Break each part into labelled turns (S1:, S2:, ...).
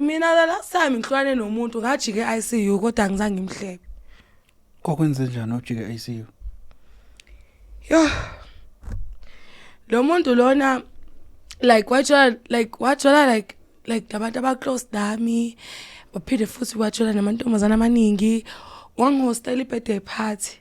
S1: mina the last time ngihlwane nomuntu ngajike ICU kodwa ngizange ngimhlebe kwakwenze
S2: njani ujike ICU
S1: yo lo muntu lona like wathola like wathola like like abantu aba close nami baphinde futhi wathola namantombazana amaningi wangihostela ibirthday party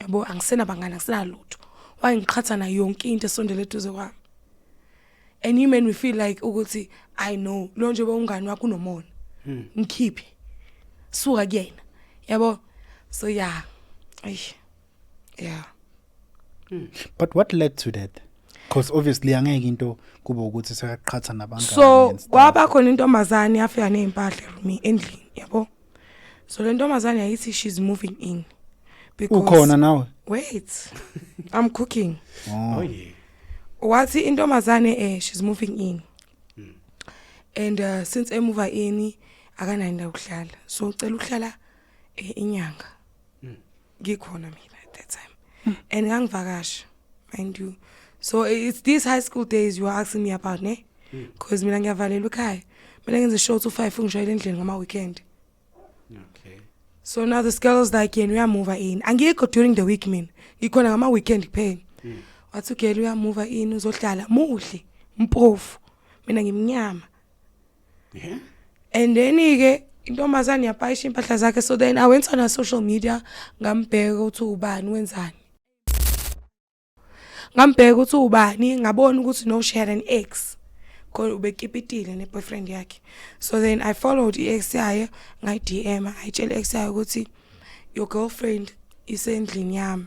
S1: yabo angisena bangani angisenalutho wayengiqhatha nayo yonke into esondele eduze kwami and you men we feel like ukuthi i know lo nje bewungani wakho unomona hmm. ngikhiphe suka kuyena yabo so yeah eish yeah hmm.
S2: but what led to that because obviously angeke into kube ukuthi sekaqhatha nabangani so kwaba
S1: khona intombazane yafika nezimpahla room endlini yabo so le ntombazane yayithi she's moving in because ukhona nawe
S2: wait i'm
S1: cooking oh
S2: yeah wathi
S1: intombazane eh she's moving in hmm. and uh, since emuva ini akanayo indawo yokuhlala so ucela ukuhlala eh, inyanga ngikhona mina at that time mm. and ngangivakasha mind you so it's these high school days you are asking me about ne because mina ngiyavalelwa ekhaya mina ngenze show to 5 ngishayela endlini ngama weekend okay
S3: so now
S1: the girls like yena uyamuva in angikho during the week mina ngikhona ngama weekend kuphela hmm. wathi ugela uyamuva in uzohlala muhle mpofu mina ngimnyama
S3: yeah. and
S1: then-ke intombazane yapayisha impahla zakhe so then i went on a social media ngambheka ukuthi ubani wenzani ngambheka ukuthi ubani ngabona ukuthi no she had an ex kodwa ubekipitile ne-boyfriend yakhe so then i followed i-ex yayo ngayi-dm ngayitshela i-ex yayo ukuthi your girlfriend isendlini yami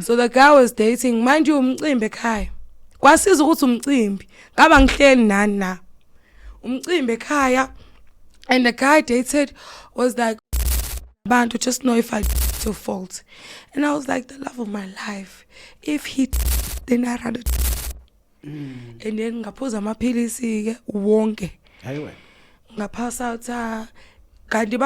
S1: so the guy was dating manje umcimbi ekhaya kwasiza ukuthi umcimbi ngaba ngihleli nani na umcimbi ekhaya and the guy dated was like abantu just know if I to fault and I was like the love of my life if he then I rather mm. and then ngaphuza amaphilisi ke wonke hayiwe
S3: ngaphasa utha
S1: kanti